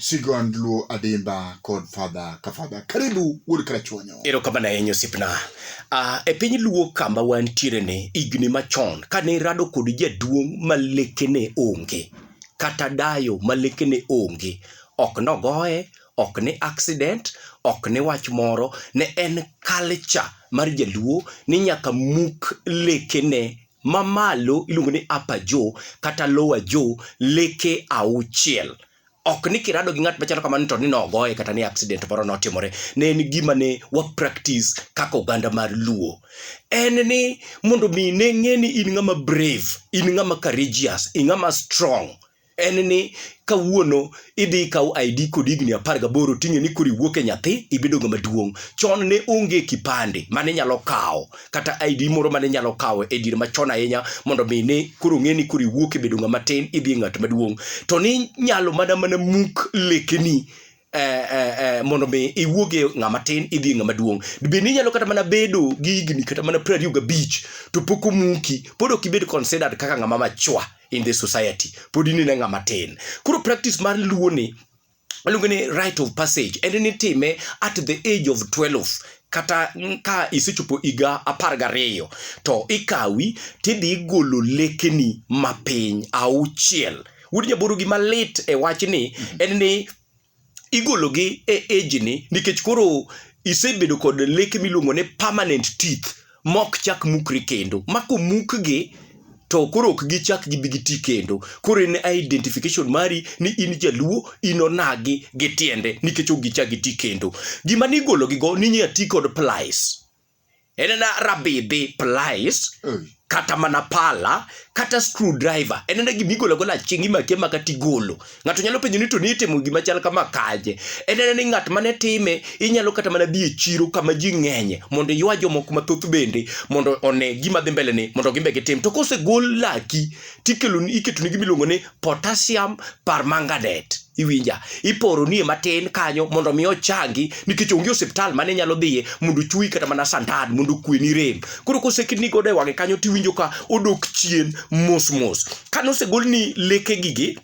Sigond Luo Adimba kod Fadha ka Fadha. Karibu wuod Krachuonyo. Erokamano ahinya osiepna. Uh, e piny Luo kama wantiere ni higni machon kane irado kod jaduong' ma lekene onge kata dayo ma lekene onge ok nogoye ok ni accident ok ni wach moro ne en culture mar jaluo ni nyaka muk lekene mamalo iluongo ni upper jaw kata lower jaw leke auchiel ok ni kirado gi ng'at machalo kamano to ni nogoye kata ni accident moro notimore ne en gima ne wa practice kaka oganda mar luo en ni mondo mi ne ng'e ni in ng'ama brave in ng'ama courageous in ng'ama strong en ni kawuono idhi ikaw ID kod higni apar gaboro ting'e ni koro iwuok e nyathi ibedo ng'ama duong'. Chon ne onge kipande mane nyalo kawo kata ID moro mane nyalo kawo e diere machon ahinya mondo mi ne koro ng'e ni koro iwuok e bedo ng'ama tin idhi e ng'at maduong'. To ni nyalo mana mana muk lekeni eh, eh, eh, mondo mi iwuog e ng'ama tin idhi e ng'ama duong' be ni inyalo kata mana bedo gi higni kata mana piero ariyo gabich to pok omuki pod ok ibed considered kaka ng'ama machwa in the society pod in ine ng'ama tin koro practice mar luo ni aluonge ni right of passage en ni time at the age of 12 kata mm, ka isechopo higa apar gariyo to ikawi tidhi igolo lekeni mapiny auchiel Wuod Nyaburu gima lit e wachni en ni igologi e age ni nikech koro isebedo kod leke miluongo ni permanent teeth mok chak mukre kendo. Ma komukgi to koro ok gichak gibi giti kendo. Koro en identification mari ni in jaluo, in onagi gi tiende nikech ok gichak giti kendo. Gima nigologigo ninya ti kod plies. en na rabidhi plies mm. kata mana pala kata screw driver en na gima igolo gola chieng' imake maka tigolo ng'ato nyalo penjo ni to ni itimo gima chal kama kaje en na ni ng'at mane time inyalo kata mana dhi e chiro kama ji ng'enye mondo iywa jomoko mathoth bende mondo one gima dhi mbele ni mondo gimbe gitim to kosegol laki tikelo iketo ni gima iluongo ni potassium permanganate iwinja iporo nie matin kanyo mondo mi ochangi nikech onge osiptal mane nyalo dhiye mondo chuyi kata mana sandan mondo kweni rem koro kosekidni godo e wang'e kanyo tiwinjo ka odok chien mos mos kane osegol ni leke gigi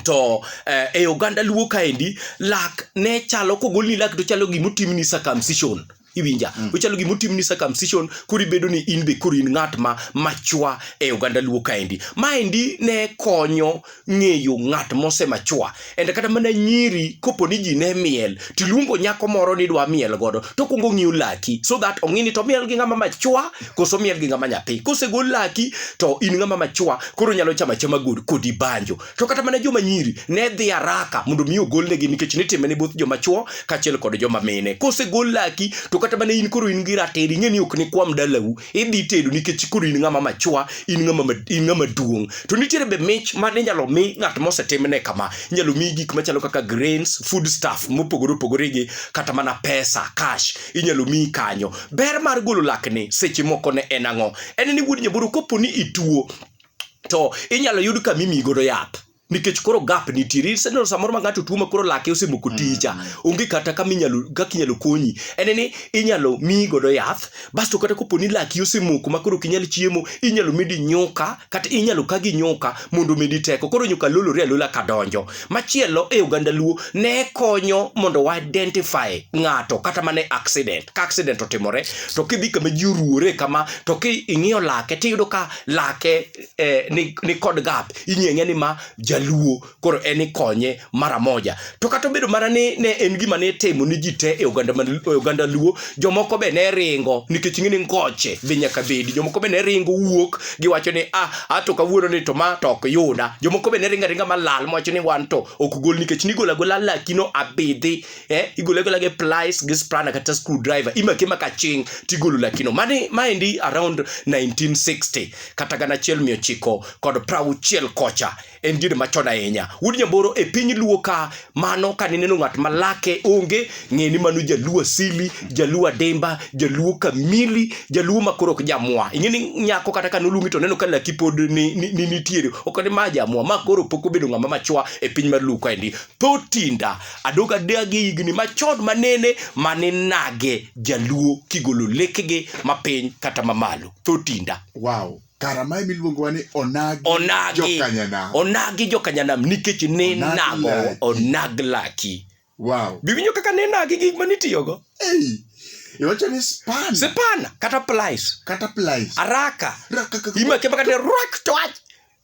to eh, e oganda luo kaendi lak ne chalo kogolni lak to chalo gima otimni circumcision iwinja mm. ochalo gima otimni circumcision koro ibedo ni in be koro in ng'at ma machwa e oganda luo kaendi maendi ne konyo ng'eyo ng'at mose machwa ende kata mana nyiri kopo ni ji ne miel tiluongo nyako moro ni dwa miel godo to kwongo ng'iyo laki so that ong'ini to miel gi ng'ama machwa koso miel gi ng'ama nyathi kosegol laki to in ng'ama machwa koro nyalo chama chama kodi banjo To kata mana joma nyiri ne dhi haraka mondo mi ogolnegi nikech nitime ne both joma chwo kaachiel kod joma mine. Kosegol laki to kata mana in koro in gi ratiro ing'e ni ok nikwam dalau idhi tedo nikech koro in ng'ama machwa in ng'ama ma- in ng'ama duong'. To nitiere be mich ma inyalo mi ng'at mosetimne kama inyalo mi gik machalo kaka grains, food stuff mopogore opogore gi kata mana pesa cash inyalo mi kanyo. Ber mar golo lakni seche moko ne en ang'o? En ni wuod nyaboro kopo ni ituo to inyalo yud ka mimi godo yath nikech koro gap nitiere iseneno samoro ma ng'ato tuo ma koro lake osemoko ticha mm. onge kata kama inyalo kaka inyalo konyi en ni inyalo miyi godo yath basto kata kopo ni laki osemoko ma koro ok inyal chiemo inyalo medi nyuka kata inyalo ka gi nyuka mondo omedi teko koro nyuka lolore alola ka donjo machielo e oganda luo ne konyo mondo wa identify ng'ato kata mana accident ka accident otimore to kidhi kama ji oruwore kama to ki ing'iyo lake tiyudo ka lake eh, ni, ni kod gap ing'eng'e ni ma jaluo koro en ikonye mara moja to kata obedo mana ni ne en gima ne timo ni ji te e oganda, e oganda luo jomoko be ne ringo nikech ing'e ni ngoche be nyaka bedi jomoko be ne ringo wuok giwacho ni ah ato kawuono ni to ma to ok yuda jomoko be ne ringa ringa malal mowacho ni wan to ok gol nikech nigola gola lakino abidhi eh, igole agola gi plies gi spanner kata screwdriver imake maka ching tigolo lakino mani maendi around 1960 kata gana achiel mia ochiko kod prauchiel kocha en dinde machon ahinya wuod nyamboro e piny luo ka mano ka nineno ng'at malake onge ng'eni mano jaluo asili jaluo ademba jaluo kamili jaluo makoro ok jamwa ing'eni nyako kata ka noluongi to neno ka laki pod ni, ni, ni nitiere ok ni ma jamwa ma koro pok obedo ng'ama machwa e piny mar luo kaendi tho tinda Adog adag e higni machon manene mane nage jaluo kigolo lekege mapiny kata mamalo thotinda wow kara mae miluongowa ni onagi onagi jokanyanam onagi jokanyanam nikech ne Onagi nago laki. onag laki wow biwinjo kaka ne nagi gik manitiyogo ei iwacho ni span sipana kata plies kata plies araka Rakakaka- imakema kata rak to wach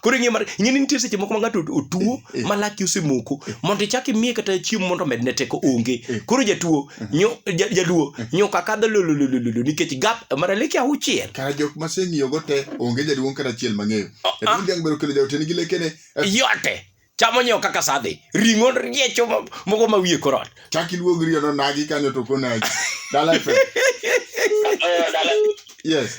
koro ing'e mar ing'e ni nitie seche moko ma ng'ato otuo eh. ma laki osemoko mondo ichak imiye kata chiemo mondo omedne teko onge eh. koro jatuo eh. nyo jaluo nyo kaka dho lololololo nikech gap mara leke auchiel kara jok ma seng'iyo go te onge jaduong' kata achiel mang'eyo oh, ah. jaduong' dhiang' bero kelo jaote nigi lekene yote chamo nyewo kaka sadhi ring'o riecho moko ma wiye korot chak iluog riyo no nagi kanyo to konagi dala fe yes